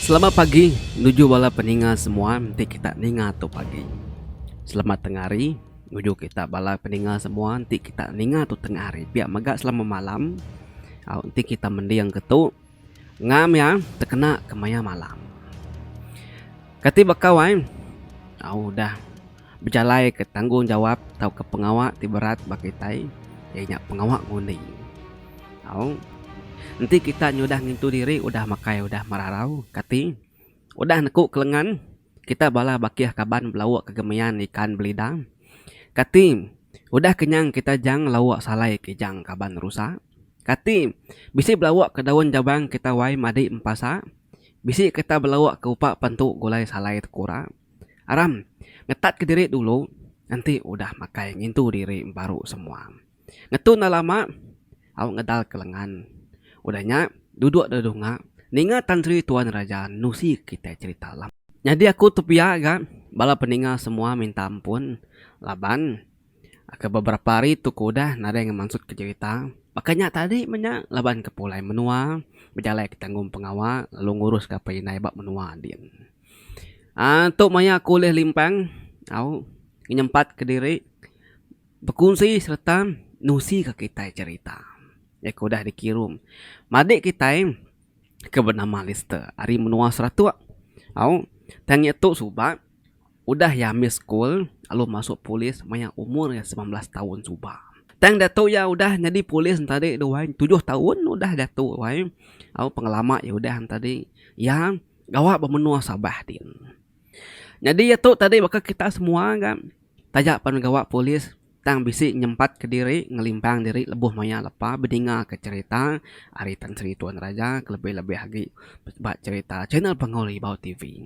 Selamat pagi nuju bala peninga semua enti kita ninga tu pagi. Selamat tengah hari nuju kita bala peninga semua enti kita ninga tu tengah hari. Pia mega selamat malam au enti kita mending ke tu ngam iya tekena kemaya malam. Kati bakau ai au udah. bejalaika tanggungjawap tauka pengawa ti berat ba kitai iya nya pengawa ngundi. Au. Enti kita nyudah ngintu diri udah makai udah merarau kati udah neku ke lengan kita bala bakih kaban belauk ke gemian ikan belida kati udah kenyang kita jang lauk salai ke jang kaban rusa kati bisi belauk ke daun jabang kita wai madi empasa bisi kita belauk ke upa pentu gulai salai tekura. Aram, ngetatka diri dulu enti udah makai ngintu diri baru semua. Ngetu enda lama au ngedalka lengan. Udah nya duduk da dunga ninga Tan Sri Tuan Raja nusi kitai cherita lama. Nyadi aku tepia ga bala peninga semua minta ampun laban ke beberapa hari tu ku udah nadai ngemansutka cherita baka nya tadi menya laban ke pulai menua bejalaika tanggung pengawa lalu ngurus gapai indai ba menua din. Um Tu maya aku ulih limpang au ngenyempat ke diri bekunsi sereta nusi ka kitai cherita iya ke udah dikirum madik kitai ke benama Lister ari menua Seratok au tang iya tu suba udah iya ambi school lalu masuk polis maya umur iya semilan belas taun suba. Tang diatu iya udah nyadi polis enta adi dua tujuh taun udah diatu ai au pengelama iya udah enta adi iya. gawa ba menua Sabah ti. Nyadi iya tu tadi baka kita semua ga taja pan gawa polis tang bisi nyempat ka diri ngelimpang diri lebuh maya lepa bedinga ka cherita ari Tan Sri Tun Raja ke lebih lebih agi ba cherita channel Punggol Ribau TV.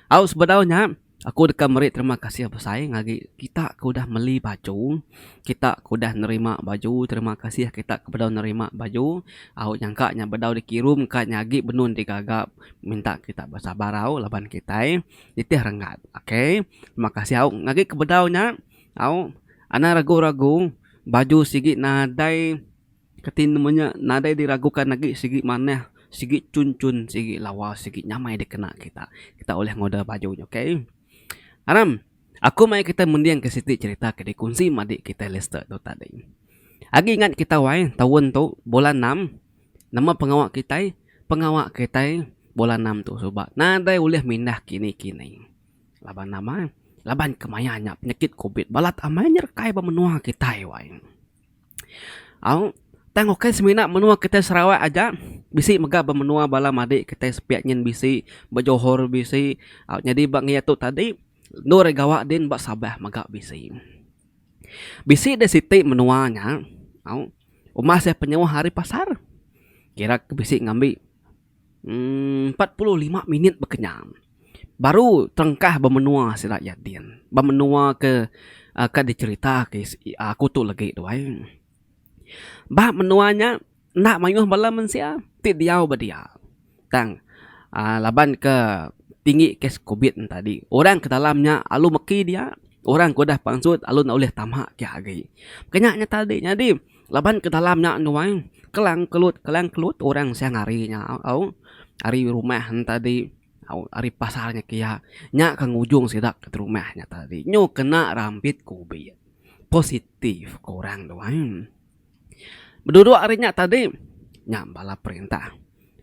Au sebedau nya. Aku deka meri terima kasih besai ngagi kita ke udah meli baju, kita ke udah nerima baju, terima kasih kita ke bedau nerima baju, au nyangka nya bedau dikirum ka nya agi benun ti gaga minta kita besabar au laban kitai nitih renggat. Ok terima kasih au ngagi ke bedau nya au anang regu-regu baju sigi nadai. Kati nama nya nadai diraguka agi sigi manah sigi chun chun sigi lawa sigi nyamai dikena kita. Kita ulih ngoda baju nya okay. Aram aku mai kita mending ke siti cherita ke dikunsi madi kita Lister tu tadi. Agi ingat kita wai taun tu bulan enam nama pengawa kitai pengawa kitai bulan enam tu suba nadai ulih mindah kini kini laban nama laban kemaya nya penyakit covid balat amai nya rekai ba menua kitai wai. Au, tang ukai semina menua kita Sarawak aja, bisi mega ba menua bala madi kitai sepiak nyin bisi, ba Johor bisi. Au, nyadi ba ngi atu tadi, endur ari gawa din ba Sabah mega bisi. Bisi deh siti menua nya, au, uma seh penyauh ari pasar. Kira ke bisi ngambi. Empat puluh lima minit bekenyang baru tengkah ba menua sida iya din. Ba menua ke ka dicherita ke aku tu legi tu ai. Ba menua nya enda mayuh bala mensia ti diau ba dia. Tang aaa laban ke tinggi kes covid nya tadi orang ke dalam nya alu meki dia, orang ke udah pansut alu enda ulih tama ke agi. Kena nya tadi nyadi Laban ke dalam nya nuai kelang kelut kelang kelut orang siang hari nya au ari rumah nya tadi au ari pasar nya kia nya ke ngujung sida ke rumah nya tadi nyu kena rambit kubit positif ke orang nuai bedudua ari nya tadi nya bala perintah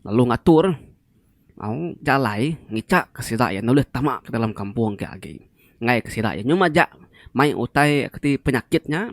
lalu ngatur au jalai ngicha ke sida ke ulih tama ke dalam kampung ke agi ngagai ke sida nyu majak mai utai ke ti penyakit nya.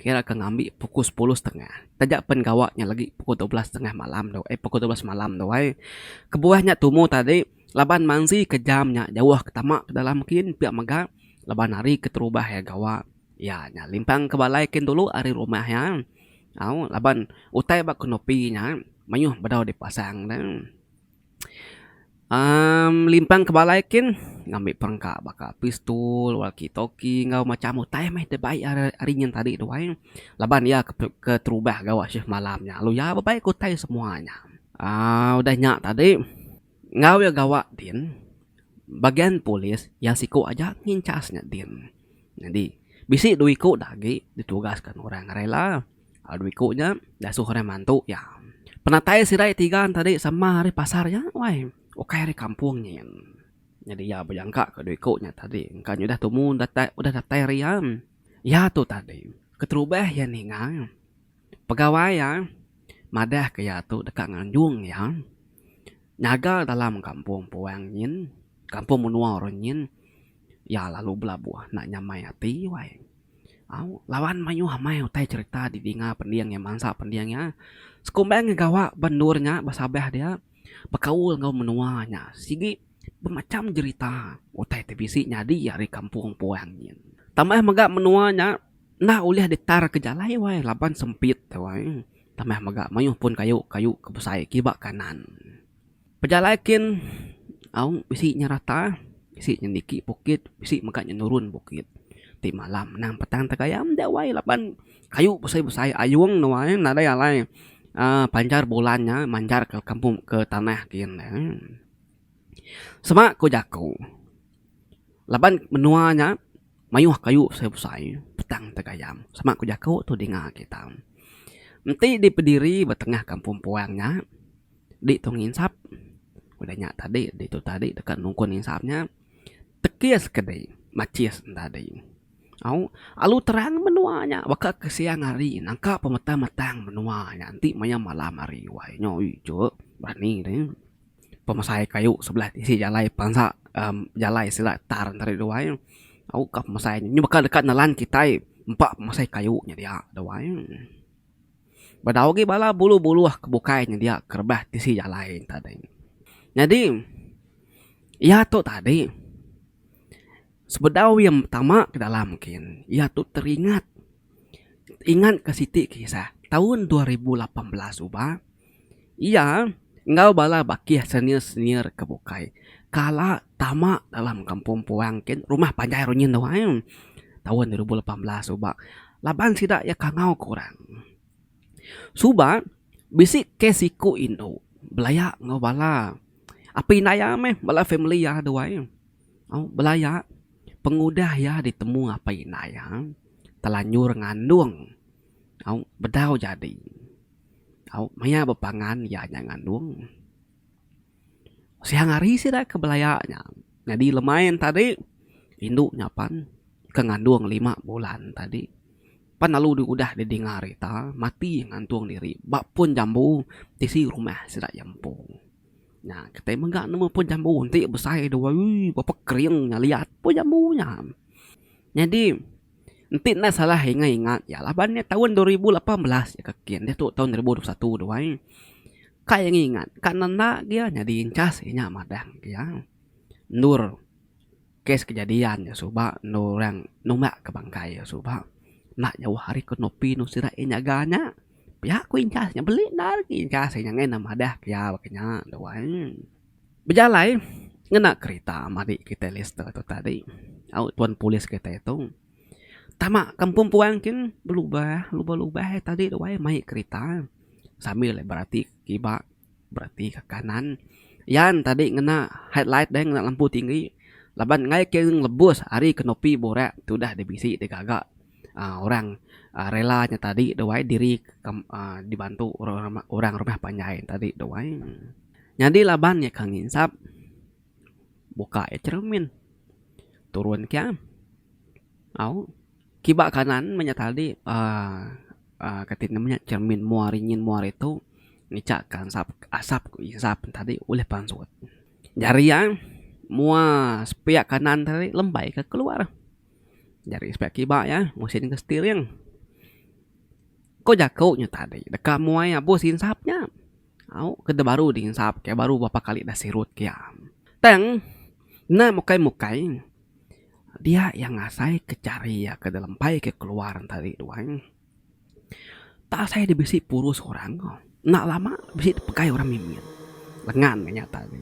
Kira ke ngambi pukul sepuluh setengah taja pen gawa nya lagi pukul dua belas setengah malam tu ai pukul dua belas malam tu ai. Kebuah nya tumu tadi laban manzi ke jam nya jauh ke tama ke dalam kin pia mega laban hari ke terubah iya gawa iya nya limpang ke balai kin dulu ari rumah iya au laban utai ba konopi nya mayuh bedau dipasang ne. Amm limpang ke balai kin ngambi perengka baka pistol, walkie talkie enggau macam utai meh da bai ari nyin tadi tu ai. Laban iya keterubah gawa shift malam nya lalu iya bebai ke utai semua nya. Aaa udah nya tadi enggau iya gawa din bagian polis iya siku aja nginchas nya din. Nyadi bisi dua iku da agi ditugaskan orang rela. Lalu iku nya diasuh orang mantu iya. Penatai sirai tiga enti ari sama ari pasar nya wai ukai ari kampung nyin. Nyadi iya bejangka ke dua iku nya tadi engka nya udah tumu datai udah datai ari iya. Iya tu tadi keterubah iya ninga pegawai iya madah ke iya tu deka nganjung iya nyaga dalam kampung puang nyin, kampung menua orang nyin Iya lalu belabuh enda nyamai ati wai. Au, laban mayuh amai utai cherita didinga pending iya mansa pending iya. Sekumbang iya gawa ba endur nya ba Sabah dia bekaul enggau menua nya. Sigi bemacham jerita utai ti bisi nyadi ari kampung puang nyin. Tambah mega menua nya enda ulih ditarka jalai wai laban sempit wai. Tambah mega mayuh pun kayu-kayu ke besai kiba kanan. Pejalai kin aung bisi nyerata, bisi nyeniki bukit, bisi mega nyenurun bukit. Ti malam anang petang tegaya meda wai laban kayu besai besai ayung ne wai nadai alai aaa panjar bulan nya manjar ke kampung ke tanah kin ne. Sema ku jaku laban menua nya mayuh kayu besai besai petang tegaya sema ku jaku tu dinga kita. Enti dipediri ba tengah kampung puang nya. Ditu nginsap udah nya tadi ditu tadi deka nungkun nginsap nya tekis ke dei machis en tadi au alu terang menua nya baka ke siang hari nangka pemetang metang menua nya enti maya malam hari wai nyo ui cuk berani deh pemesai kayu sebelah tisi jalai bansa em jalai sida tar tadi tu wai au ka pemesai nyo baka deka nelan kitai empa pemesai kayu nya dia tu wai. Bedau agi bala buluh-buluh ke bukai nyedia ke rebah tisi jalai enti tadi. Nyadi iya tu tadi sebedau iya betama ke dalam kin iya tu teringat ingatka siti kisah taun dua ribu lapan belas suba. Iya enggau bala bakih senior-senior ke bukai kala tama dalam Kampung Puang kin Rumah Panjai Runyin tu ai taun dua ribu lapan belas suba laban sida iya kangau ke orang. Suba bisi kes siku indu belaya enggau bala api indai iya meh bala family iya dua ai au belaya pengudah iya ditemu apai indai iya telanjur ngandung au bedau jadi. Au maya bepangan iya nya ngandung. Siang hari sida ke belaya nya nyadi lemain tadi indu nya pan ke ngandung lima bulan tadi pan lalu diudah didinga rita mati ngantung diri ba pun jambu tisi rumah sida iya empu. Nya kitai mega nemu pun jambu enti besai dua ui berapa kering nya liat pun jambu nya. Nyadi. Enti enda salah ingai ingat iya laban nya taun dua ribu lapan belas iya ke kin diatu taun dua ribu dua puluh satu tu ai. Ka ingat ingat ka enda enda agi iya nyadi inchas inya madah agi iya. Endur kes kejadian iya suba endur orang numbak ke bangkai iya suba enda jauh ari ke nopi endur sida iya nyaga nya. Pia ku inchas nya beli enda lagi inchas iya nyangai enda madah ke iya baka nya tu ai. Bejalai ngena kerita madi kitai Lester tu tadi au tuan polis kitai tu tama kampung puang kin belubah lubah ia tadi tu ai mai kerita sambil ia berati ke kiba berati ke kanan yan tadi ngena headlight dei ngena lampu tinggi laban enggai ke lebus ari kenopi burak tu udah dibisi digaga uhh orang rela nya tadi tu ai diri uhh dibantu orang rumah panjai tadi tu ai. Nyadi laban iya ka nginsap, buka iya cheremin. Turun ke am. Au. Kiba kanan menya tadi uhh kati ne menya cheremin mua hari nyin mua hari tu ngicha ka ensap asap ku insap ne tadi ulih pansut. Jari iya mua sepiak kanan tadi lembai ka keluar. Jari sepiak kiba iya musin ke setiring. Ko jaku nya tadi deka muai abus insap nya. Au ke da baru dinsap ke baru berapa kali da sirut ke iya. Tang enda mukai mukai dia iya ngasai ke jari iya ke da lempai ke keluar tadi tu ai. Enda asai da bisi purus orang ko. Enda lama bisi dipegai orang mimit lengan ke nyata nya.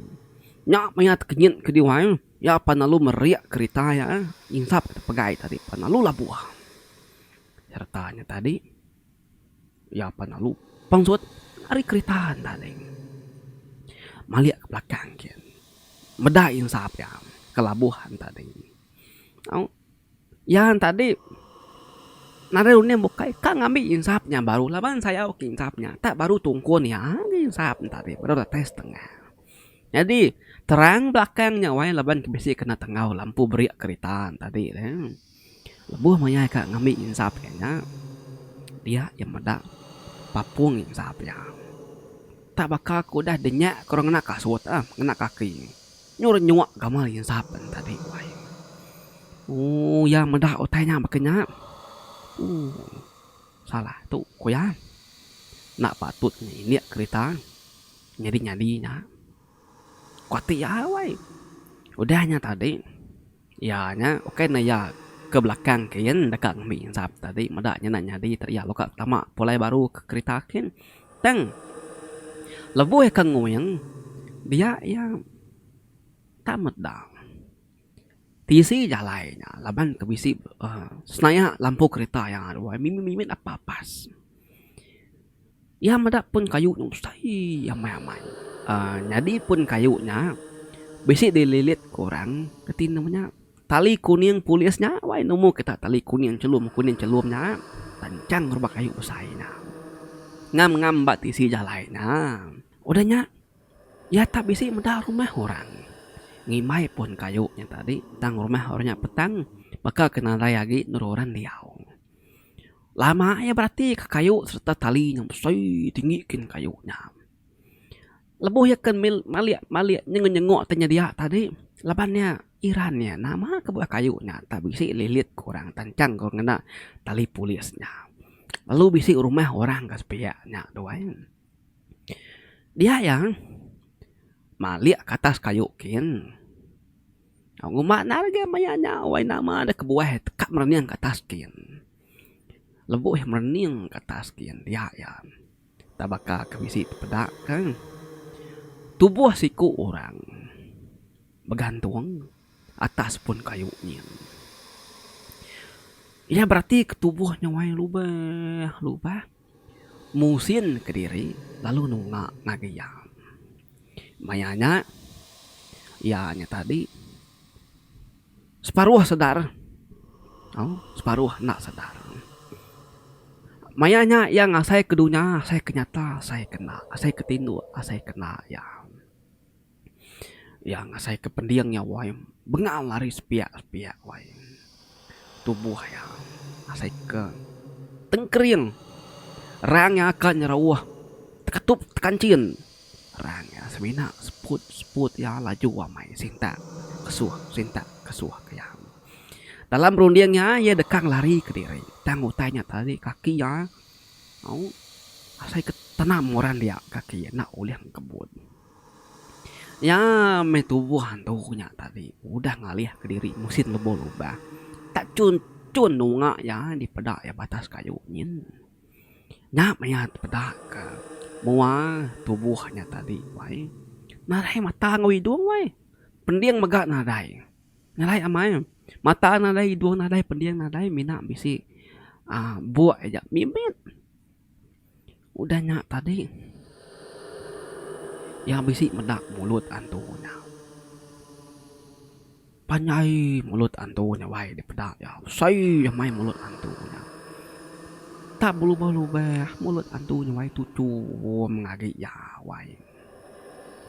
Nya maya tekenyit ke diau ai iya pan lalu merik kerita iya insap ke pegai tadi pan lalu labuh sereta nya tadi. Iya apai enda lupang surat ari kerita enda alai. Malik ke belakang kian meda insa pia ke labuh an tadi. Au iya an tadi nadai uning bukai ka ngambi insa nya baru laban sayau ke insa nya tak baru tungkun iya agi insa nya tadi baru datai setengah. Nyadi terang belakang nya wayah laban ke bisi kena tenggau lampu beria kerita tadi. Lebuh maya ika ngambi nyinsap iya nya, dia iya meda papung nyinsap iya. Tak baka ku udah dinya ku orang ngena kasut ah, ngena kaki. Nyu renyuk gamal nyinsap nya tadi wai. Ooh iya meda utai nya baka nya. Ooh salah tu ku iya. Enda patut nya indik kerita nyadi-nyadi nya. Ku ati iya wai. Udah nya tadi iya nya ukai ne iya ke belakang kin deka ngembi zap tadi meda nyenda nyadi tadi iya leka tama pulai baru ke kerita kin tang lebuh ke nguing dia iya tak meda tisi jalai nya laban ke bisi uhh senayak lampu kerita iya mimit mimit apas apas. Iya meda pun kayu nya besai amai-amai. Nyadi pun kayu nya bisi dililit ku orang reti ne menya tali kuning polis nya wai nemu kita tali kuning chelum kuning chelum nya panjang rupa kayu besai nya. Ngam-ngam ba tisi jalai nya. Udah nya iya tak bisi meda rumah orang. Ngimbai pun kayu nya tadi tang rumah orang nya petang baka ke nadai agi nurun orang diau. Lama iya beratika kayu sereta tali nang besai tinggi kin kayu nya. Lebuh iya ke mil malik malik nyenguk nyenguk ti nyedia tadi laban iya iran iya nama ke bauh kayu nya tak bisi lilit ku orang tanchang ku orang ngena tali pulis nya. Lalu bisi rumah orang ka sepiya nya tu ai. Dia iya malik ka atas kayu kin. Uma enda lagi maya nya wai nama deh kebuah teka merening ka atas skin. Lebuh merening ka atas skin dia iya enda baka ke bisi peda ke tubuh siku orang begantung atas pun kayu nyin. Iya berarti ke tubuh nya wai lubeh lubeh. Muhsin kediri lalu nunga ngagai iya. Maya nya iya nya tadi separuh sedar au separuh enda sedar. Maya nya iya ngasaika dunya asai ke nyata asai ke enda asai ke tinduk asai ke enda iya. Iya ngasai ke pending iya wai bengal ari sepiak sepiak wai tubuh iya asai ke tengkering rang iya ka nyerauh tekatup tekanchin rang iya semina seput seput iya laju amai sintak kesuh sintak kesuh iya. Dalam runding iya iya deka lari kediri tang utai iya tadi kaki iya au asai ke tenam orang dia kaki iya enda ulih ngebut. Nya meh tubuh antu nya tadi udah ngalih ke diri musin lebuh lubang. Tak chun chun nunga iya dipeda iya batas kayu nyin. Nya meh iya peda ke mua tubuh nya tadi wai nadai mata enggau idung wai. Pending mega nadai. Ngerai amai mata nadai idung nadai pending nadai mina bisi aaa buk aja mimit. Udah nya tadi, iya bisi meda mulut antu iya. Panjai mulut antu iya wai dipeda iya. Besai amai mulut antu iya. Tak belubeh-lubeh mulut antu iya wai tuchum ngagi iya wai.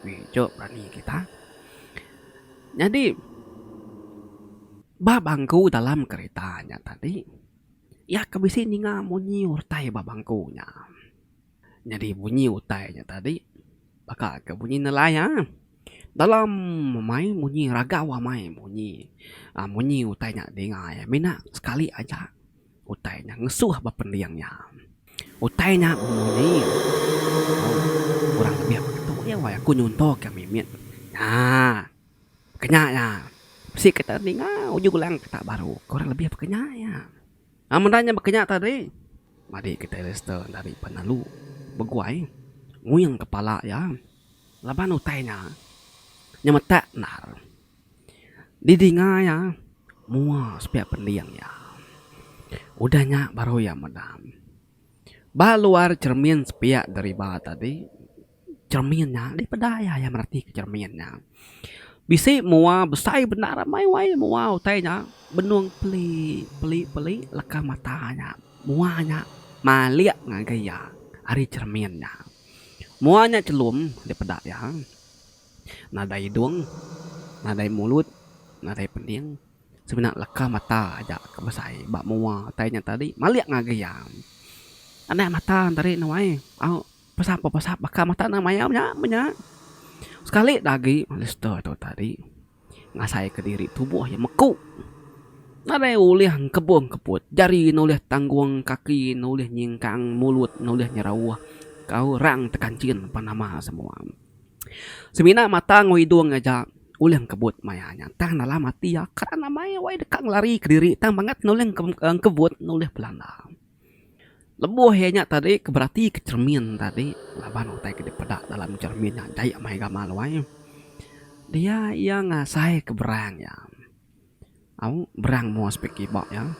Biju rami kita. Nyadi ba bangku dalam kereta nya tadi. Iya ke bisi ninga munyi utai ba bangku nya. Nyadi munyi utai nya tadi baka ke munyi nelai a. Dalam amai munyi ragau amai munyi aaa munyi utai nya dinga iya mina sekali aja utai nya ngesuh ba pending iya. Utai nya munyi kurang lebih mek tu aja aku nyuntok ke mimit. Haa. Kenya nya, bisi kita ninga ujung lang kita baru kurang lebih bekenya nya. Amun enda nya bekenya tadi, madi kita Alister enda ri pan lalu beguai nguing kepala iya laban utai nya nyemetak endar didinga iya mua sepiak pending iya. Udah nya baru iya meda ba luar cermin sepiak deriba tadi. Cermin nya deh peda iya, iya mereti ke cermin nya. Bisi mua besai bendar amai wai mua utai nya benung peli, peli peli leka mata nya. Mua nya malik ngagai iya ari cermin nya. Mua nya chelum deh peda iya. Nadai idung, nadai mulut, nadai pening semina leka mata aja ke besai ba mua utai nya tadi malik ngagai iya. Anak mata enti ari ne wai au. Pasal apa pasal baka mata nang maya nya menya. Sekali da agi Alister tu tadi ngasai ke diri tubuh iya meku. Nadai ulih engkebung keput jari ne ulih tanggung kaki ne ulih nyingkang mulut ne ulih nyerauh ka orang tekanchin pan nama semua. Semina mata enggau idung aja ulih engkebut maya nya tang dalam ati iya kan amai wai deka ngelari ke diri tang bangat ne ulih engkebut ne ulih belanda. Lebuh iya nya tadi ke berati ke cermin tadi laban utai ke dipeda dalam cermin nya jai meh gamal wai dia iya ngasai ke berang iya au berang mua sepiak kiba iya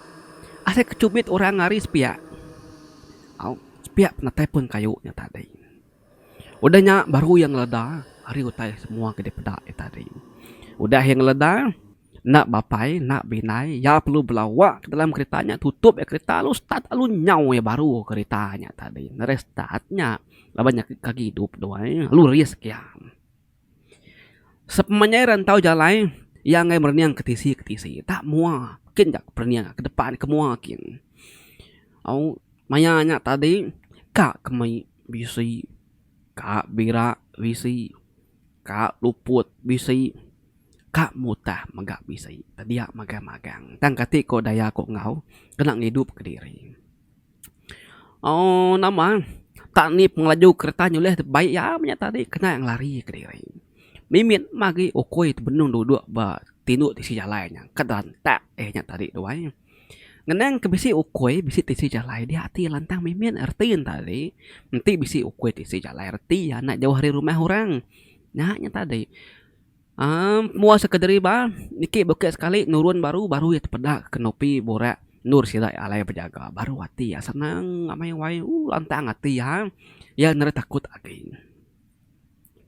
asai ke chubit orang ari sepiak au sepiak penatai pun kayu nya tadi udah nya baru iya ngeleda ari utai semua ke dipeda iya tadi udah iya ngeleda. Enda bapai, enda bindai, iya perlu bela wak ke dalam kerita nya tutup iya kerita lalu start lalu nyau iya baru kerita nya tadi ngagai start nya laban nya ke gidup duai lalu risk iya. Sepanjai iya rantau jalai iya enggai merening ke tisi ke tisi enda mua kin ka perening ke depan ke mua kin. Au maya nya tadi ka ke mei bisi ka bira bisi ka luput bisi. Ka mutah mega bisi tedia magang magang tang kati ko daya ko enggau kena ngidup ke diri. Ooh nama tak ni pengelaju kereta nyulih ti baik iya menya tadi kena ngelari ke diri. Mimit magi ukoi tebenung dudok ba tindu tisi jalai nya ka derentak eh nya tadi tuai. Ngenang ke bisi ukoi bisi tisi jalai dia ati lantang mimit reti enta tadi enti bisi ukoi tisi jalai reti iya enda jauh ari rumah orang. Nya nya tadi. Amm mua sekerderi ba niki bukit sekali nurun baru baru iya tepeda kenopi burak endur sida iya alai bejaga baru ati iya senang amai wai ooh lantang ati iya iya enda ada takut agi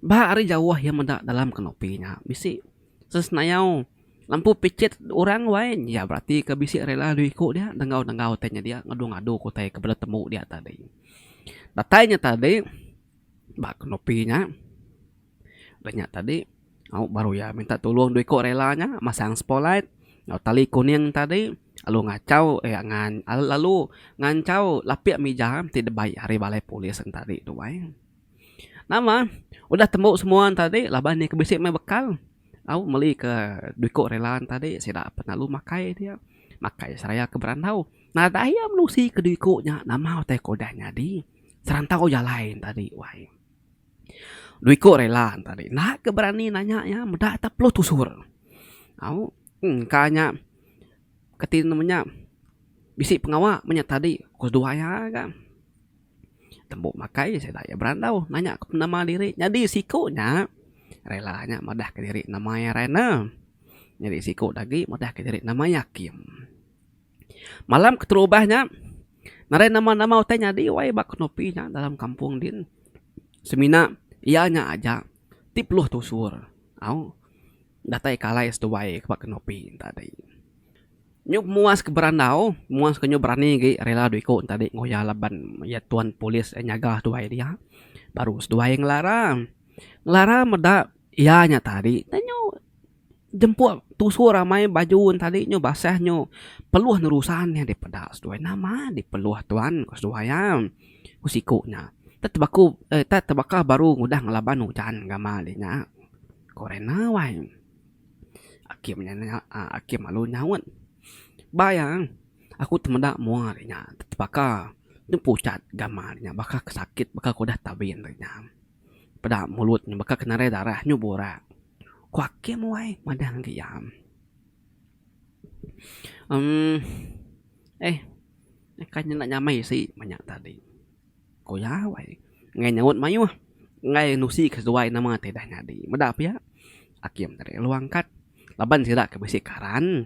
ba ari jauh iya meda dalam kenopi nya bisi sesenayau lampu pichit orang wai iya berati ke bisi rela dua iku dia dengau dengau utai nya dia ngadu ngadu ke utai ke bela temu dia tadi datai nya tadi ba kenopi nya. Udah nya tadi au baru iya minta tulung dua iko rela nya masang spotlight enggau tali kuning tadi lalu ngachau eh lalu nganchau lapik mija ti debai ari balai polis nya tadi tu ai. Nama udah tembu semua nya tadi laban iya ke bisi meh bekal au meli ke dua iko rela nya tadi sida pe lalu makai dia makai seraya ke berandau. Nadai iya menusi ke dua iko nya nama utai ke udah nyadi serantau jalai nya tadi wai. Dua iku rela enta ri enda ke berani nanya iya meda ita perlu tusur au engka nya kati nama nya bisi pengawa menya tadi ku dua iya ga tembu makai sida iya berandau nanya ku nama diri nyadi siku nya rela nya madah ke diri nama iya Rina nyadi siku agi madah ke diri nama iya Kim. Malam keterubah nya, narai nama-nama utai nyadi wai ba Kenopi nya dalam kampung din. Semina iya nya aja ti peluh tusur au datai ke alai seduai ke ba Kenopi enta dei. Nyup muas ke berandau, muas ke nyau berani agi rela dua iku enta dei ngoya laban iya tuan polis iya nyaga seduai dia baru seduai ngelara. Ngelara meda iya nya tadi tanyau. Jempuk tusur amai baju tadi nyu basah nyu peluh nerusan nya dipeda seduai nama dik peluh tuan ku seduai iya. Ku siku nya tek tebaku eh tek tebaka baru ngudah ngelaban ujan ngama dih nya. Ku rina wai akim nya nya aaa akim alu nyaut. Ba iya aku temeda mua dih nya tek tebaka ne pucat ngama dih nya baka ke sakit baka ke udah tabin dih nya. Peda mulut ne baka ke narai darah nyu burak. Ku Akim wai madah ngagai iya. Emm. Eh. Kai nyenda nyamai si manya tadi. Ku iya wai. Ngai nyaut mayuh. Ngai nusi kesuai nama ti dah nyadi. Meda pia Akim tadi lalu angkat laban sida ke bisi karan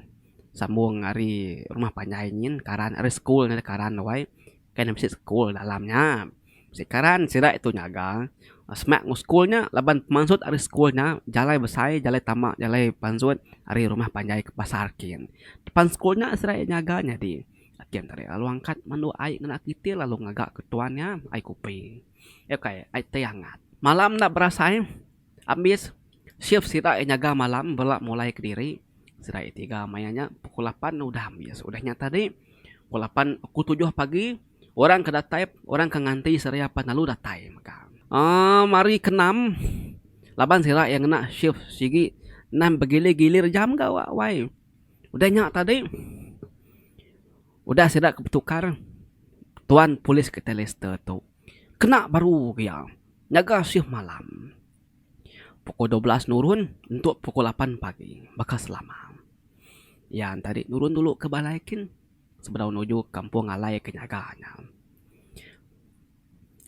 sambung ari rumah panjai nyin karan ari school karan wai. Kai ne bisi school dalam nya. Sikaran sida itu nyaga semak enggau sekul nya laban pemansut ari sekul nya jalai besai jalai tama jalai pansut ari rumah panjai ke pasar kin. Depan sekul nya sida iya nyaga nyadi kin tadi lalu angkat mandu ai ngena kitil lalu ngaga ke tuan iya ai kopi iya kai ai teh angat. Malam enda berasai ambis shift sida iya nyaga malam bela mulai kediri sida iya tiga maya nya pukul lapan udah ambis udah nya tadi pukul lapan pukul tujuh pagi. Orang ke datai, orang ke nganti seria apan lalu datai mega. Aaa mari kenam laban sira iya ngena shift sigi nan begilir-gilir jam ga awak wai. Udah nya tadi udah sida ke betukar tuan polis ke tai Lister tu kena baru ke iya ngaga shift malam pukul dua belas nurun entu pukul lapan pagi baka selama. Iya enti tadi nurun dulu ke balai kin. sebedau nuju kampung alai ke nyaga nya.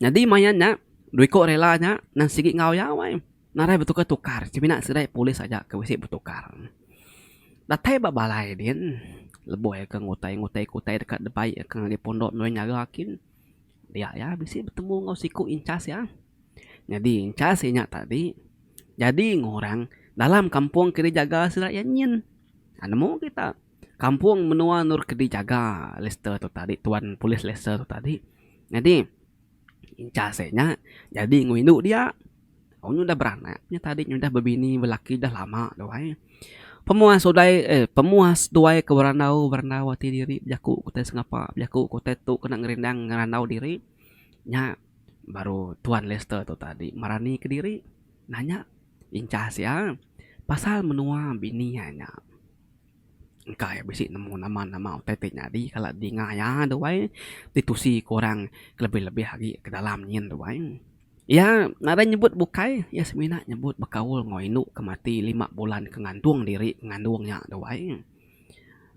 Nyadi main nya dua iko rela nya nang sigi enggau iya wai narai betukar tukar semina serai polis aja ke bisi betukar. Datai ba balai din lebuh iya ke ngutai ngutai ke utai deka debai iya ke ngagai pondok ngagai nyaga kin dia iya bisi betemu enggau siku incas iya. Nyadi incas inya tadi nyadi ngurang dalam kampung ke dijaga sida iya nyin. Nemu kita. kampung menua endur ke dijaga Lester tu tadi tuan polis Lester tu tadi. Nyadi inchas e nya nyadi enggau indu dia wang udah beranak nya tadi udah bebini belaki udah lama tu ai. Pemuas utai eh pemuas tuai ke berandau berandau ati diri bejaku ke utai sengapa bejaku ke utai tu kena ngerindang ngerandau diri nya baru tuan Lester tu tadi merani kediri nanya inchas ia pasal menua bini ia nya. Engka iya bisi nemu nama nama utai ti nyadi kala dinga iya tu ai ditusi ku orang kelebih lebih agi ke dalam nyin tu ai. Iya nadai nyebut bukai iya semina nyebut bekaul enggau indu ke mati lima bulan ke ngantung diri ngandung iya tu ai.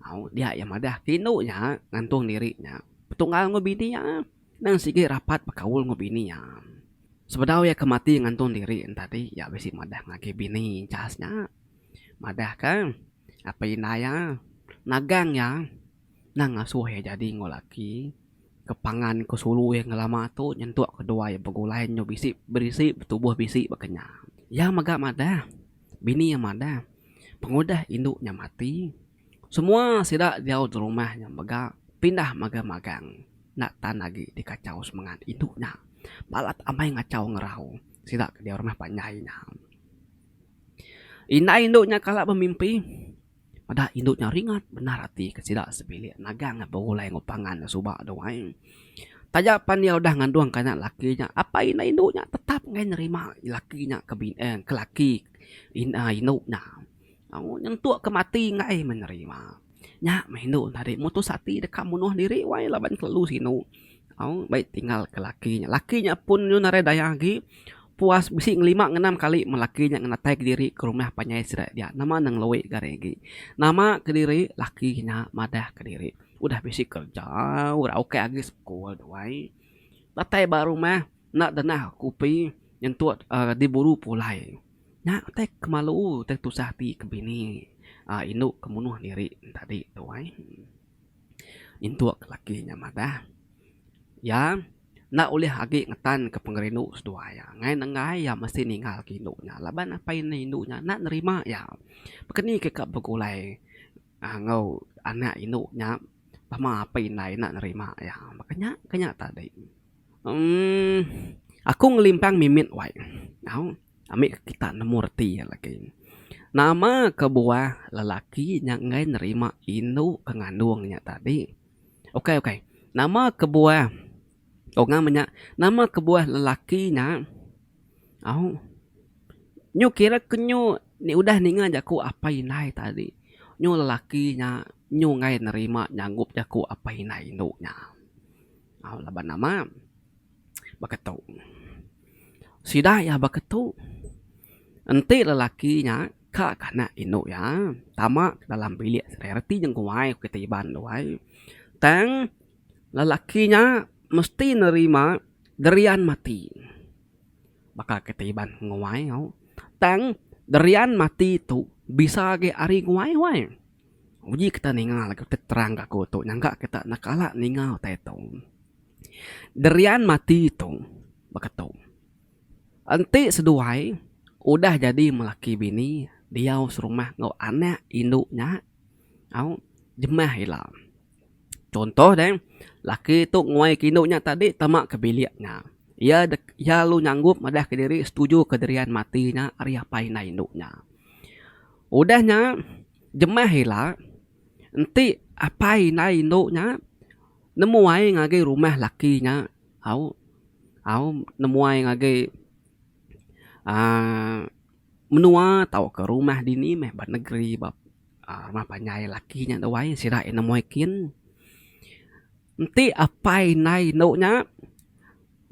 Au dia iya madah ke indu iya ngantung diri iya betunggal enggau bini iya nang sigi rapat bekaul enggau bini iya. Sebedau iya ke mati ngantung diri enti tadi iya bisi madah ngagai bini chas nya. madahka apai indai iya nagang iya nang ngasuh iya jadi enggau laki ke pangan ke sulu iya ngelama tu nyentuk ke dua iya begulai nyu bisi berisi betubuh bisi baka nya. Iya mega madah bini iya madah pengudah indu nya mati semua sida diau derumah nya mega pindah mega magang enda tan agi dikachau semengat indu nya balat amai ngachau ngerau sida ke diau rumah panjai nya. Indai indu nya kala bemimpi meda indu nya ringat bendar ati ke sida sebilik nagang iya begulai enggau pangan iya suba tu ai. Taja pan iya udah ngandungka anak lelaki iya apai indai indu nya tetap meh nerima lelaki nya ke bini eh ke lelaki indu nya nyentuk ke mati indai meh nerima. Nya meh indu enda ade mutus ati deka munuh diri wai laban kelalu sinu au baik tinggal ke laki nya. Laki nya pun yu narai daya agi puas bisi ngelima ngenam kali men laki nya ngenatai diri ke rumah panjai sida dia nama ne ngeloi gari agi. Nama kediri laki nya madah kediri udah bisi kerja ora ok agi sekul tu ai datai ba rumah enda dengah kopi nyentuk uhh diburu pulai. Nya utai ke malu utai ke tusah ati ke bini aaa indu ke munuh diri ne tadi tu ai. Nyentuk laki nya madah iya enda ulih agi ngetanka pengerindu seduai iya. Ngai nenggai iya mesti ninggalka indu nya laban apai ne indu nya enda nerima iya. Pak ke ni ka begulai aaa enggau anak indu nya pama apai indai enda nerima iya. Pak ke nya ke nya tadi. Emm aku ngelimpang mimit wai nyau ami ke kita nemu reti iya lagi. Nama kebuah lelaki nya enggai nerima indu ke ngandung nya tadi. Ukai ukai nama kebuah tau ngam nya nama kebuah lelaki nya au nyu kira ke nyu nya udah ninga jaku apai indai tadi nyu lelaki nya nyu enggai nerima nyanggup jaku apai indai indu nya. Au laban nama baka tu. Sida iya baka tu. Enti lelaki nya ka kanak indu iya tama ka dalam bilik saudara reti nyengkuai ku kitai Iban tu ai. Tang lelaki nya mesti nerima gerian mati. Baka kitai Iban nguai au. Tang gerian mati tu bisa agi ari nguai wai. Uji kita ninga lagu ti terang ke aku tu nyangka kita enda kala ninga utai tu. Derian mati tu baka tu. Enti seduai udah jadi melaki bini diau serumah enggau anak indu nya au jemah ila. Chunto deh laki tu nguai ke indu nya tadi tama ke bilik nya. Iya dek iya lalu nyanggup madah ke diri setuju ke Derian mati nya ari apai indai indu nya. Udah nya, jemah ila, enti apai indai indu nya nemuai ngagai rumah laki nya au au nemuai ngagai aaa menua tauka rumah dini meh ba negeri ba aaa rumah panjai laki nya da wai sida nemuai kin. Enti apai indai indu nya.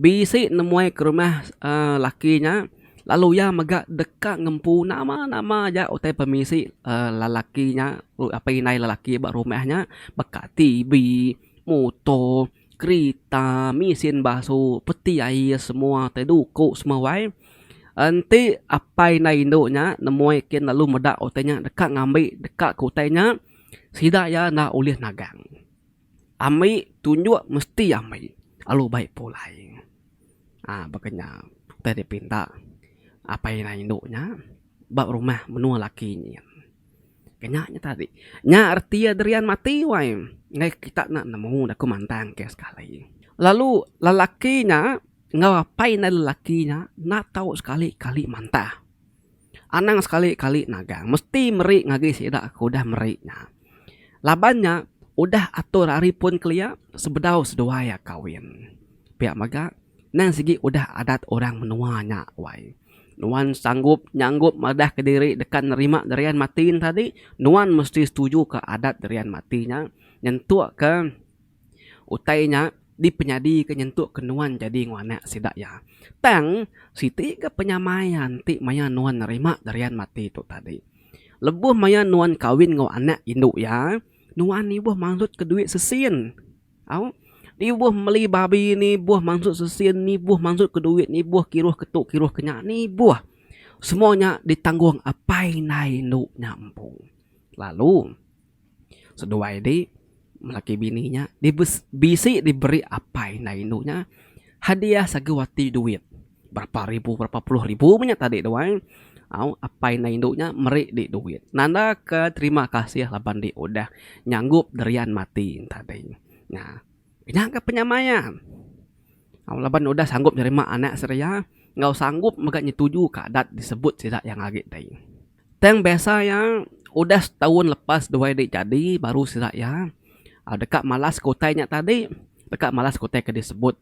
Bisi nemuai ke rumah uhh laki nya lalu iya mega deka ngempu nama nama aja utai pemisi uhh lelaki nya apai indai lelaki ba rumah nya baka TV, muto, kerita, mesin basu, peti air semua tai duko semua wai. Enti apai indai indu nya nemuai kin lalu meda utai nya deka ngambi deka ke utai nya sida iya enda ulih nagang. Ambi tunjuk mesti ambi lalu bai pulai. Ha baka nya utai dipinta apai inya indu nya ba rumah menua laki nyin. Ke nya nya tadi. Nya reti iya Derian mati wai enggai kita enda nemu ne ku mantang ke sekali. Lalu lelaki nya enggau apai inda lelaki nya enda tau sekali kali mantah. Anang sekali kali nagang mesti meri ngagai sida ke udah meri nya. Laban nya, udah atur ari pun kelia sebedau seduai iya kawin. Pia mega, endang sigi udah adat orang menua nya wai. Nuan sanggup nyanggup madahka diri deka nerima gerian mati enti tadi, nuan mesti setujuka adat gerian mati nya nyentukka. Utai nya dipenyadika nyentukka nuan jadi enggau anak sida iya. Tang, siti ga penyamaian ti maya nuan nerima Darian Mati tu tadi. Lebuh maya nuan kawin enggau anak indu iya, nuan ibuh mansutka duit sesin. Au, ibuh meli babi nibuh mansut sesin, nibuh mansutka duit, nibuh kiruh ke tu, kiruh ke nya, nibuh. Semua nya ditanggung apai indai indu nya empu. Lalu, Seduai di laki bini nya bisi diberi apai enda indu nya hadiah sagu ati duit berapa ribu berapa puluh ribu meh nya tadi tu ai au apai enda indu nya meri di duit nanda ka terima kasih laban di udah nyanggup dirian mati enta tadi nah. Nya ka penyamaian au laban udah sanggup nerima anak seria enggau sanggup mega nyetuju ka adat disebut sida yang agi ti. Tang biasa iya udah setaun lepas duai dik jadi baru sida iya deka malas ke utai nya tadi deka malas ke utai ke disebut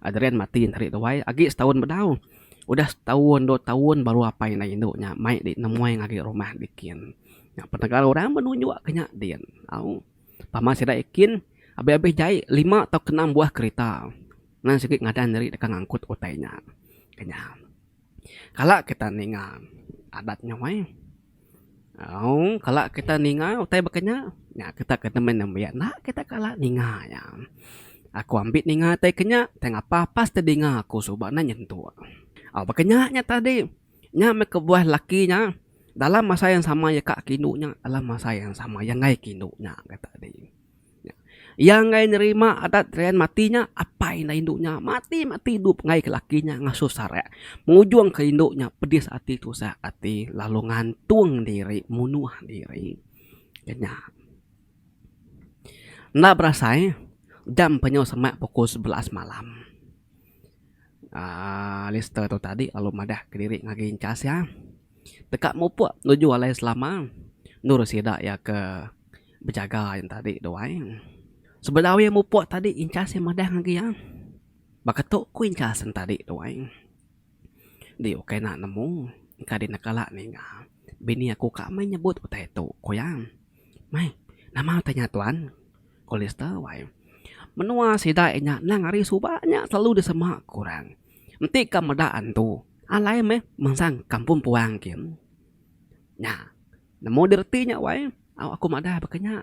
Adrian mati enti ari duai agi setaun bedau udah setaun dua taun baru apai enda indu nya mai di nemuai ngagai rumah dikin. Nya pendengar orang pun nunjuk ke nya din au pama sida ikin abih abih jai lima tau ke enam buah kerita nang sigi ngadan diri deka ngangkut utai nya. Ke nya. Kala kita ninga adat nya meh au kala kita ninga utai baka nya nya kita ke nambah nembiak enda kita kala ninga nya. Aku ambi ninga utai ke nya utai ngapa pas ti dinga aku suba ne nyentu. Au baka nya nya tadi nya meh kebuah laki nya dalam masa yang sama iya ka aku indu nya dalam masa yang sama iya enggai aku indu nya tadi. Iya enggai nerima adat Rian mati nya, apai indah indu nya mati-mati idup ngagai ke laki nya ngasuh sarak. Pengujung ke indu nya pedis ati tusah ati lalu ngantung diri munuh diri. Ke nya. Enda berasai jam penyu semak pukul sebelas malam aaa Alister tu tadi lalu madah ke diri ngagai Enchas iya. Deka mupuk nuju alai selama endur sida iya ke. Bejaga ain tadi dua ain. Sebedau iya mupuk tadi inchas iya madah ngagai iya. Baka tu ku inchas en tadi dua ain. Enti ukai enda nemu engka dina kala ninga bini aku ka meh nyebut utai tu ku iya. Meh nama utai nya tuan? Ku Lister wai. Menua sida inya nang ari suba nya selalu disema kurang. Enti ka meda antu alai meh mansang kampung puang kin. Nya. Nemu dirti nya wai au aku madah baka nya.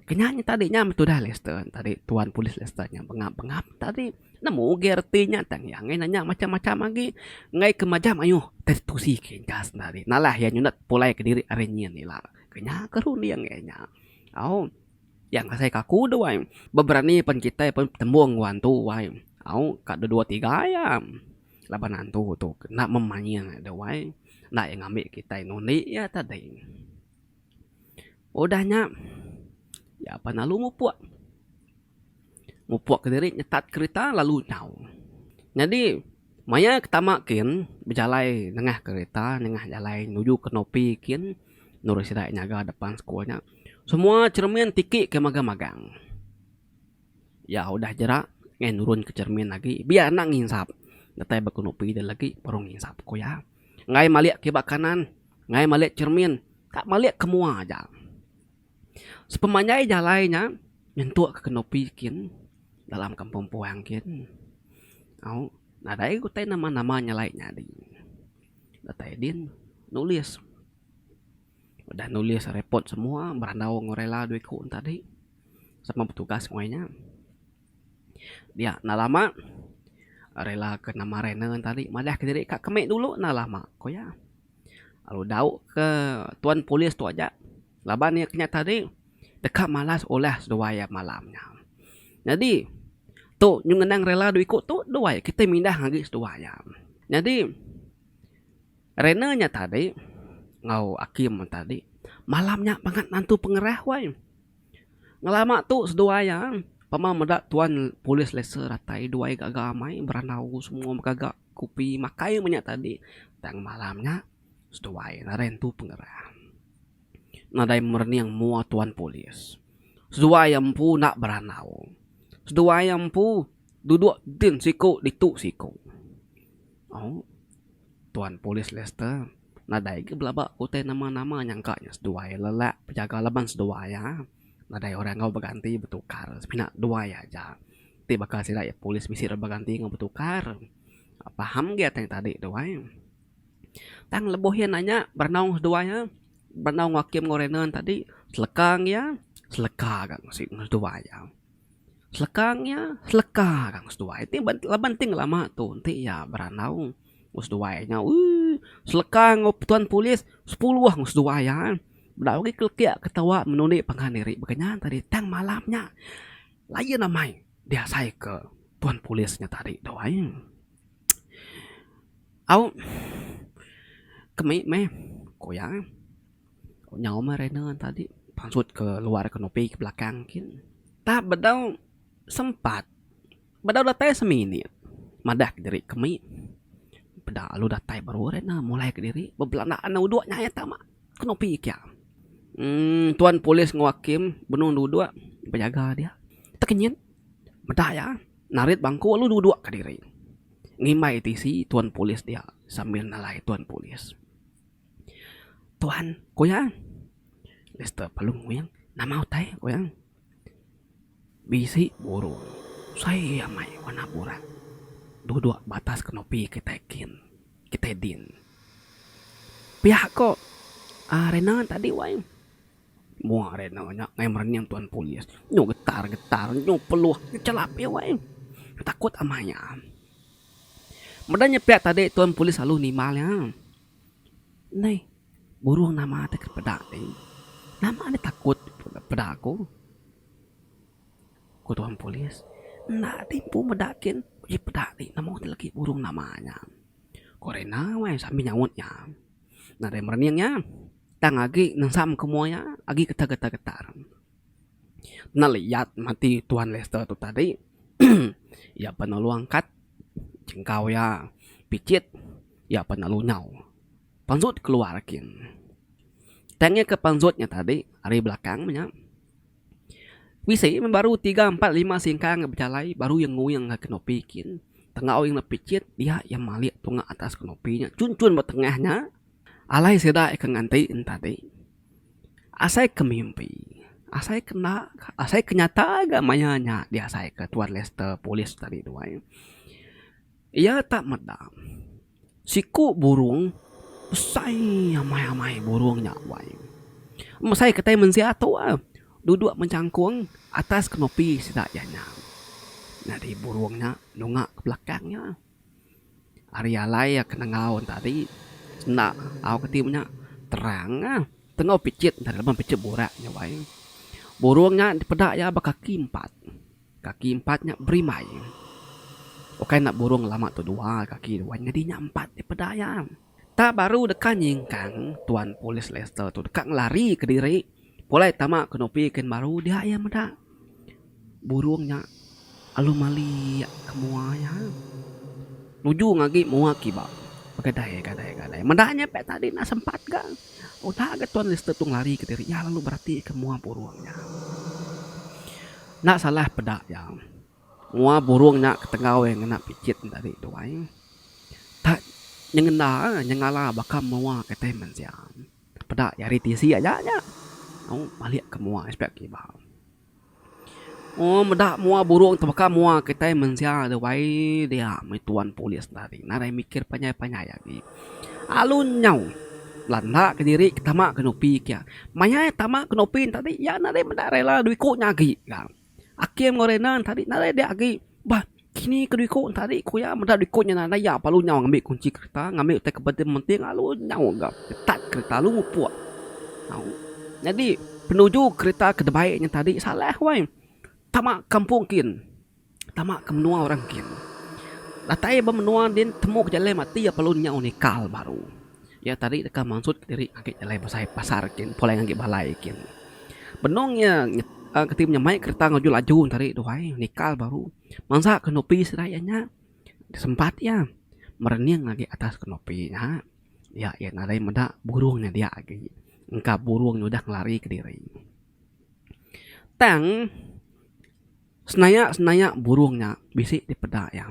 Kenya nya tadi nya meh tudah Lester tadi tuan polis Lester nya bengap bengap tadi nemu ugai reti nya tang iya angai nanya macam macam agi enggai ke majam ayuh teh tusi ke engka senda agi nalah iya nyunat pulai kediri ari nyin ila. Kenya ke ru nih angai nya. Au iya engka sai ke aku deh wai beberani pen kitai pen betemu nguan tu wai au ka dua dua tiga iya. Laban antu tu kena memanying ida wai enda iya ngambi kitai nundi iya tadi. Udah nya iya pan lalu mupuk. Mupuk kediri nyetat kerita lalu nyau. Nyadi maya ke tama kin bejalai nengah kerita nengah jalai nuju ke Nopi kin nurun sida nyaga depan school nya semua cermin tiki ke magang-magang. Iya udah jerak ngai nurun ke cermin agi biar enda nginsap. Datai ba kenupi dia lagi baru nginsap ku iya. Ngai malik ke ba kanan, ngai malik cermin ka malik ke mua aja. Sepemanjai jalai nya nyentuk ke kenupi kin dalam kampung puang kin au nadai utai nama nama nya alai nyadi. Datai din nulis. Udah nulis repot semua berandau enggau rela dua iku enti tadi. sama betugas meh nya dia enda lama rela ke nama random ngan tadi madahka diri ka kemi dulu enda lama ku iya. Lalu dau ke tuan polis tu aja laban iya kinya tadi deka malas ulah seduai iya malam nya. Nyadi tu nyun ngenang rela dau iku tu duai kitai mindah agi seduai iya. Nyadi. Rena nya tadi enggau Akim tadi malam nya bangat nantu pengerah wai. Ngelama tu seduai iya pemau meda tuan polis laser datai duai gaga amai berandau semua begaga kopi makai menya tadi tang malam nya seduai ngaran tu pengerah. Nadai merening mua tuan polis. Seduai iya empu enda berandau. Seduai iya empu duduk entin siku ditu siku. Au. Tuan Polis Lester nadai ga belaba utai nama-nama nyangka nya seduai lelak pejaga laban seduai iya nadai orang enggau beganti betukar semina duai iya aja. Ti baka sida iya polis bisi dau beganti enggau betukar. Paham ge atai tadi tu ai. Tang lebuh iya nanya berenung seduai iya, berenung enggau Hakim enggau Renon tadi seleka enggau iya seleka ga seduai iya. Selekang iya seleka ka ku seduai ti laban ti ngelama tu enti iya berandau ku seduai nya ooh seleka enggau tuan polis sepuluh enggau seduai iya enda ogi kelekit ketewa menuni pangan diri baka nya tadi tang malam nya lain amai diasai ke tuan polis nya tadi tu ai. Au kemi meh ku iya. Nyau meh rena tadi pansut ke luar kenopi ke belakang kin tap bedau sempat bedau datai seminit madah kediri ke mi peda lalu datai baru rena mulai kediri bebelanda enda udok nya iya tama kenopi kia uhh tuan polis enggau hakim benung dua dua bejaga dia tekenyit meda iya narit bangku lalu dua dua kediri ngimbai tisi tuan polis dia sambil nalai tuan polis. Tuan, ku iya. Mister Palung Wing, nama utai? ku iya. Bisi burung sai amai warna burak duduk ba atas kenopi kitai kin, kitai din. Pia ko uhh rena tadi wai. Mua rena nya ngena merening tuan polis. Nyu getar getar, nyu peluh, nyu chelap iya wai. Takut amai iya. Meda nya pia tadi tuan polis lalu nimbal iya. Neh burung nama ti ke peda ti. Nama nya takut peda aku. Ku tuan polis, enda ti empu meda kin uji peda ti nama ti legi burung nama nya. Ku rina weh sambil nyaut iya. Nadai merening iya tang agi nensam ke mua iya agi getar getar getar. Pernah liyat mati Tuan Lester tu tadi iya pun lalu angkat jengkau iya picit iya pun lalu nyau panjut keluar kin. Tang iya ke panjut nya tadi ari belakang nya bisi meh baru tiga empat lima singkang ke bejalai baru iya nguing ke kenopi kin tengau iya enggau picit dia iya malik tunga atas kenopi nya chun chun ba tengah nya alai sida ke nganti nya tadi. Asai ke mimpi, asai ke enda, asai ke nyata ga maya nya diasai ke Tuan Lester Polis tadi tu ai. Iya tak meda siku burung besai amai-amai burung nya wai. Mesai kitai mensia tu ah duduk menjangkung atas kenopi sida iya nya. Nyadi burung nya nunga ke belakang iya. Ari alai iya ke nengau enta tadi enda au ke ti ku nya terang ah tengau picit enta lebuh picit burak nya wai. Burung nya dipeda iya ba kaki empat, kaki empat nya berimai. Ukai ne burung lama tu dua kaki wai nyadi nya empat dipeda iya. Tang baru deka nyingkang, Tuan Polis Lester tu deka ngelari ke diri pulai tama ke nupi kin baru dia iya meda burung nya alu mali ke mua iya. Nuju ngagi mua kiba begadai gadai gadai. Meda nya pia tadi enda sempat ga. Udah ga Tuan Lester tu ngelari ke diri iya lalu beratika mua burung nya. Enda salah peda iya. Mua burung nya ketenggau iya ngena pijit enda agi tuai. Tak nyengenda nyengala baka mua kitai mensia. Peda iya ari tisi aja nya au malik ke mua iya pia kiba. Moh meda mua burung tu baka mua kitai mensia tuai dia meh tuan polis enda ari nadai mikir panjai panjai agi. Alu nyau belanda kediri tama ke nupi kia. Maya iya tama ke nupi tadi iya nadai meda rela dua iku nya agi ga. Akim enggau Rena ntadi nadai dia agi bah kini ke diku ntadi ku iya meda diku nya nadai iya perlu nyau ngambi kunchi kereta ngambi utai ke penting penting lalu nyau ga start kereta lalu mupuk au nyadi penuju kereta ke dibai nya tadi salah wai tama kampung kin tama ke menua orang kin datai ba menua din temu ke jalai matik iya perlu nyau nikal baru. Iya tadi deka mansut kediri ngagit jalai besai pasar gin pulai ngagit balai gin. Benung iya keti menyamai kereta ngeju laju tadi tu ai nikal baru mansa kenopi sida iya nya sempat iya merening agi atas kenopi nya iya aja nadai meda burung nya dia agi engka burung nya udah ngelari kediri. Tang senaya senaya burung nya bisi dipeda iya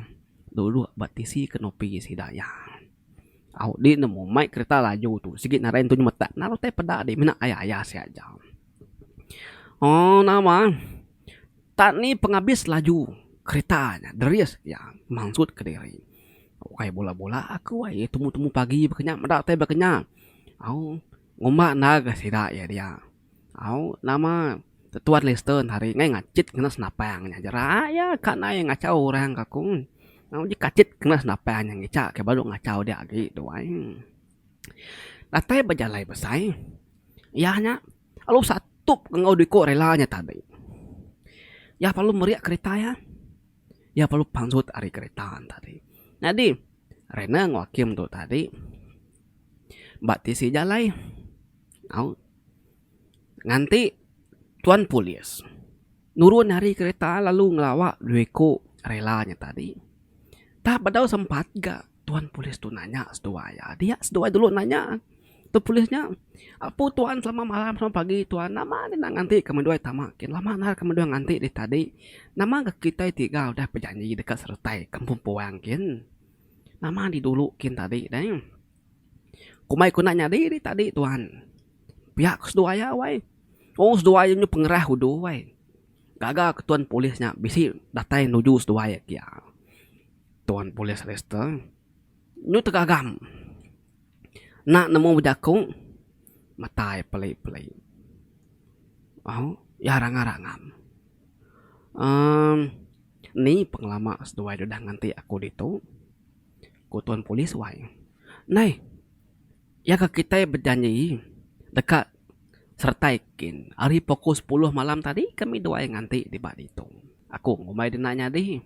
dudok ba tisi kenopi sida iya. Au di nemu mai kereta laju tu sigi narai ntu nyemetak na utai peda di mina aya aya sia aja. Aw nama tak ni pengabis laju kereta nya deris iya mansut kediri. Ukai bula bula aku ai temu temu pagi ba kinya meda utai ba kinya. Au ngumba enda ga sida iya dia. Au nama Tuan Lester hari ngai ngachit kena senapang nya jerak iya ka nai ngachau orang ka ku. Au ji kachit kena senapang nya ngicha ke baru ngachau dia agi tu ai. Datai bejalai besai iya nya lalu satup enggau dua iko rela nya tadi. Iya lalu meri kerita iya, iya lalu pansut ari kerita nya tadi. Nyadi Rena enggau Hakim tu tadi ba tisi jalai. Au nganti tuan polis nurun ari kereta lalu ngelawa dua iku rela nya tadi. Tap bedau sempat ga tuan polis tu nanya seduai iya. Dia seduai dulu nanya tu polis nya apu tuan selama malam selama pagi tuan nama nya enda nganti ke menua tama ke lama nang ke menua nganti deh tadi. Nama ga kitai tiga udah bejanji deka seretai kampung puang kin. Nama di dulu kin tadi deh. Kumbai ku enda nyadi nih tadi tuan. Pia ku seduai iya wei. Tau seduai iya nyau pengerah udu wei. Gaga ke tuan polis nya bisi datai nuju seduai iya kia. Tuan polis Lester nyau tegagam enda nemu bejaku mata iya peli peli. Au iya ranga rangam. uhh Ni pengelama seduai deh udah nganti aku ditu. ku tuan polis wai. Nai, iya ka kitai bejanji deka seretai kin ari pukul sepuluh malam tadi kami dua ai nganti diba ditu. Aku ngumbai dina nyadi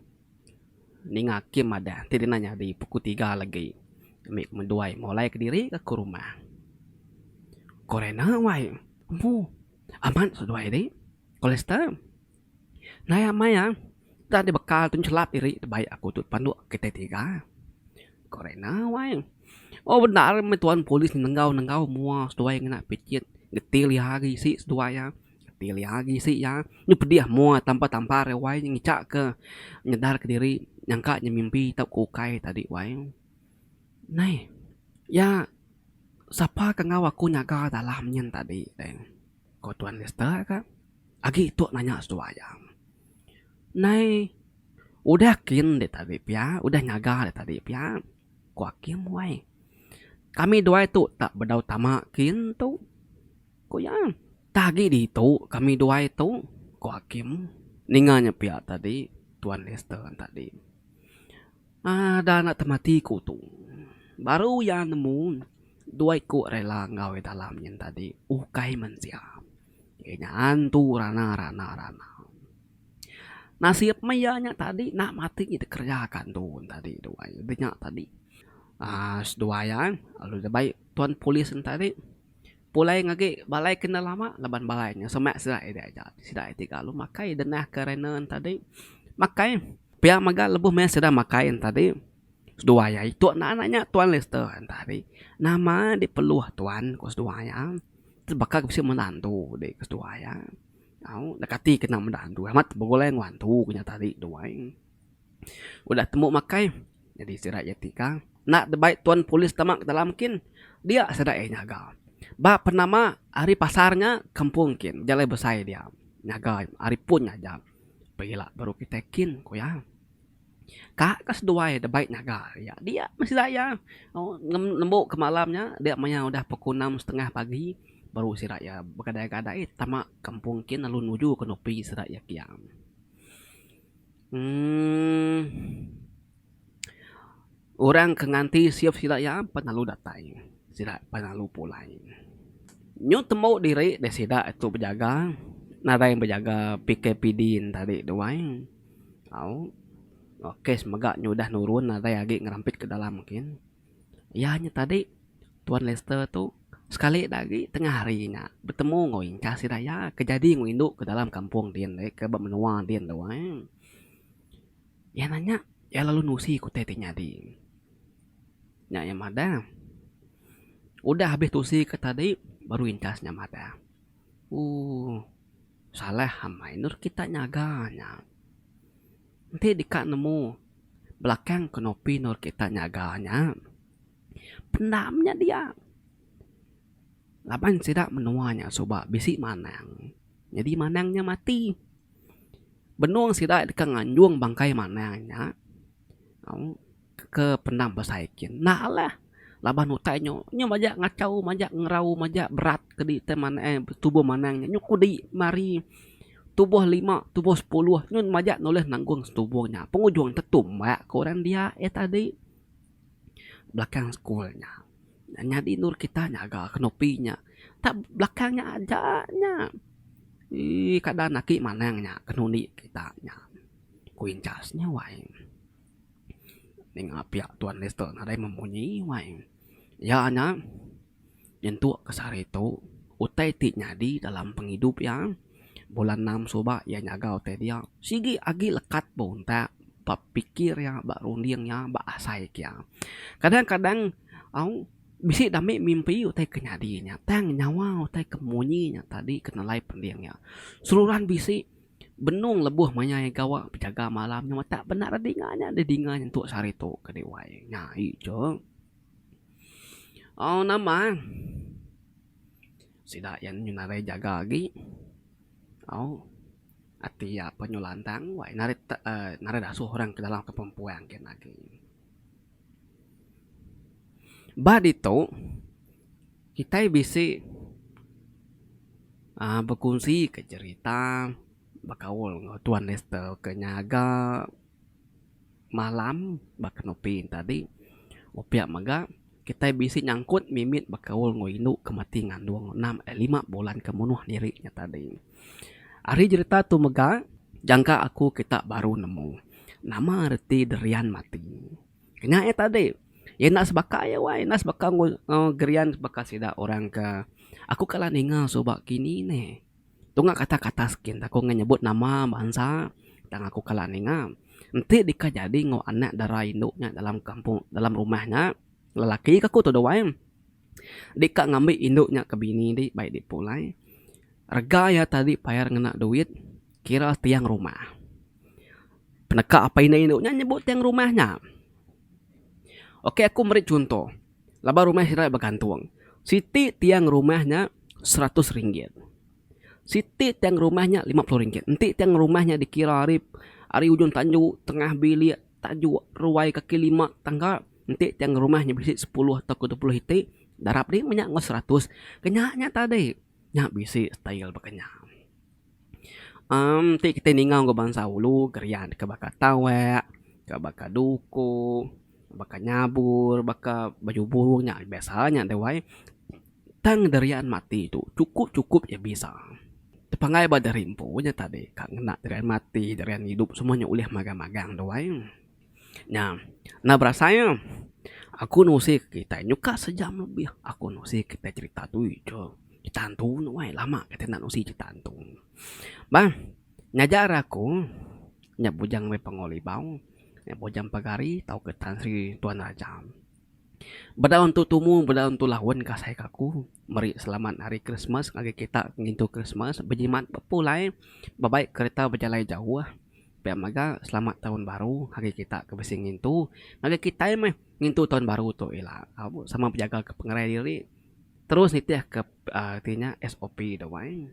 ninga Kim madah ti dina nyadi pukul tiga legi ami ke mendua ai mulai kediri ke ke rumah. Ku Rena wai. Empu amat seduai ri, Kolester. Naya maya enda deh bekal tu chelap diri tebaik aku tu panduk kitai tiga. Ko Rina wai. Oh bendar meh tuan polis nenggau nenggau mua seduai ngena picit ngetil iya agi isi seduai iya. Ngetil iya agi isi iya. Nyau pedih mua tampar tampar iya wai ngicak ke nyedar ke diri nyangka inya mimpi tau ke ukai tadi wai. Neh iya sapa ke enggau aku nyaga dalam nyin tadi deh. Ko Tuan Lister ka. Agi tok nanya seduai iya. Nai udah kin dik tadi pia udah nyaga dik tadi pia ko Akim wai. Kami duai tok tak bedau tama kin tok ko iya. Tah agi ditu kami duai tok ko Akim ninga nya pia tadi Tuan Lister tadi. Ada anak temati ke utung. Baru iya nemu dua iku rela enggau iya dalam nyin tadi ukai mensia. Iya nya antu rana rana rana. Nasib meh iya nya tadi enda matik nyi dikereja ka antu nyin tadi dua iya nya tadi. Aaa dua iya lalu deba tuan polis nyin tadi. Pulai ngagi balai ke enda lama laban balai nya semak sida ida aja sida iti kalu makai denah ke rena tadi makai pia mega lebuh meh sida makai yen tadi seduwa iya itu naan aja nya tuan lester yen tadi nama diperlu tuan ku seduwa iya baka ku bisi menda antu dik ku seduwa iya au deka ti kena menda antu amat begulai enggau antu ku nya tadi duai. Udah tembu makai nyadi sida iya ti ka enda tebai tuan polis tama ke dalam kin dia sida iya nyaga. Ba penama ari pasar nya kampung kin jalai besai dia nyaga ari pun aja pegila baru kitai kin ku iya. Ka ke seduai debai nyaga iya dia meh sida iya nembu ke malam nya dia maya udah pukul enam setengah pagi baru sida iya begadai-gadai tama kampung kin lalu nuju ke nupi sida iya kiang. Emm Orang ke nganti siup sida iya pan lalu datai sida pan lalu pulai. Nyau tembu diri deh sida tu bejaga nadai bejaga PKPD tadi tu ai au kes mega nyudah nurun nadai agi ngerampit ke dalam gin. Iya nya tadi, Tuan Lester tu sekali da agi tengah hari nya betemu enggau ingkah sida iya ke jadi enggau indu ke dalam kampung din deh ke ba menua din tu ai. Iya nanya iya lalu nusi ke utai ti nyadi. Nya iya madah, udah habis tusi ke tadi baru ingkas nya madah, ooh salah amai endur kita nyaga nya. Enti deka nemu belakang kenopi endur kita nyaga nya, pendam nya dia. Laban sida menua nya suba bisi manang. Nyadi manang nya mati. Benung sida deka nganjung bangkai manang nya, au. ke penam besai ke enda lah laban utai nyu nyu majak ngachau majak ngerau majak berat kedi tai manah eh tubuh manang nya nyu kudi mari tubuh lima tubuh sepuluh nyu majak nulih nanggung tubuh nya pengujung tu tumbak ku orang dia eh tadi belakang sekul nya nyadi nurut kita nyaga kenupi nya tak belakang nya aja nya ii kada agi manang nya kenundi kita nya kuinchas nya wai. Ninga pia Tuan Lester nadai memunyi wai iya nya nyentuk ke sehari tu utai ti nyadi dalam pengidup iya bulan enam suba iya nyaga utai dia sigi agi lekat ba untak ba pikir iya ba runding iya ba asai ke iya. Kadang kadang au bisi dame mimpi utai ke nyadi nya tang nyawa utai ke munyi nya tadi ke nelai pending iya seruran bisi Benung lebuh mayai gawa bejaga malam nya matak bena ra dinga nya deh dinga nyentuk sehari tu ke deh wai nyai icuk. Au nama sida iya nyu narai jaga agi au ati iya pa nyu lantang wai narai narai dasuh orang ke dalam kampung puang kian agi. Ba ditu, kitai bisi aaa bekunsika cherita, bekaul enggau Tuan Lester ke nyaga malam ba Kenopi enti tadi. Opiak mega. Kitai bisi nyangkut mimit bekaul enggau indu ke mati ngandung enam eh lima bulan ke munuh diri nya tadi. Ari jerita tu mega, jangka aku kita baru nemu nama reti Derian mati. Ke nya eh tadi, iya enda sebaka iya wai, enda sebaka enggau Derian sebaka sida orang ke aku kala ninga suba kini neh. Tunga kata ke atas gin aku ngan nyebut nama bansa tang aku kala ninga enti deka jadi enggau anak dara indu nya dalam kampung dalam rumah nya lelaki ke aku tu duai deka ngambi indu nya ke bini di bai di pulai rega iya tadi payar ngena duit kira tiang rumah. Peneka apai indu nya nyebut tiang rumah nya. Ok aku meri chunto. Laban rumah sitai begantung. Siti tiang rumah nya seratus ringgit. Siti tiang rumah nya lima puluh ringgit. Enti tiang rumah nya dikira ari ari ujung tandu, tengah bilik, tajuk, ruai, kaki lima tangga, enti tiang rumah nya bisi sepuluh tauka dua puluh iti, darab di meh nya enggau seratus. Ke nya nya tadi. Nya bisi style baka nya. Amm ti kitai ninga enggau bansa ulu gerian deka baka tawek, deka baka duku, baka nyabur, baka baju burung nya biasa nya deh wai. Tang derian mati tu chukup chukup iya bisa. Tepanggai ba diri empu nya tadi ka ngena derian mati derian idup semua nya ulih magang magang deh wai. Nya, enda berasai nya. Aku nusi ke kitai nyuka sejam lebih aku nusi ke kitai cerita tu ija. Cerita hantu nya wai lama kitai enda nusi cerita hantu. Bah ngajar aku nya bujang meh Pangu Libau, nya bujang Pagari tauka Tan Sri Tuan Raja. Bedau entu tumu bedau entu laun ke asai ke aku meri selamat hari Krismas ngagai kita ngintu Krismas bejimat bepulai bebai kereta bejalai jauh. Pia mega selamat taun baru ngagai kita ke bisi ngintu. Ngagai kitai meh ngintu taun baru tu ila sama bejaga ke pengerai diri terus nitih ke uhh ti nya SOP da wai.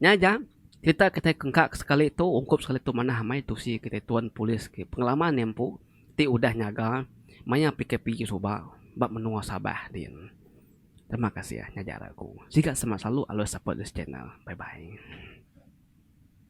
Nya ja kita kitai ke engka sekali tu ungkup sekali tu manah amai tusi kitai tuan polis ke pengalaman nya empu ti udah nyaga maya PKP ti suba ba menua Sabah din. Terima kasih nya ja laku. Siga semak selalu alus support this channel. Bye bye.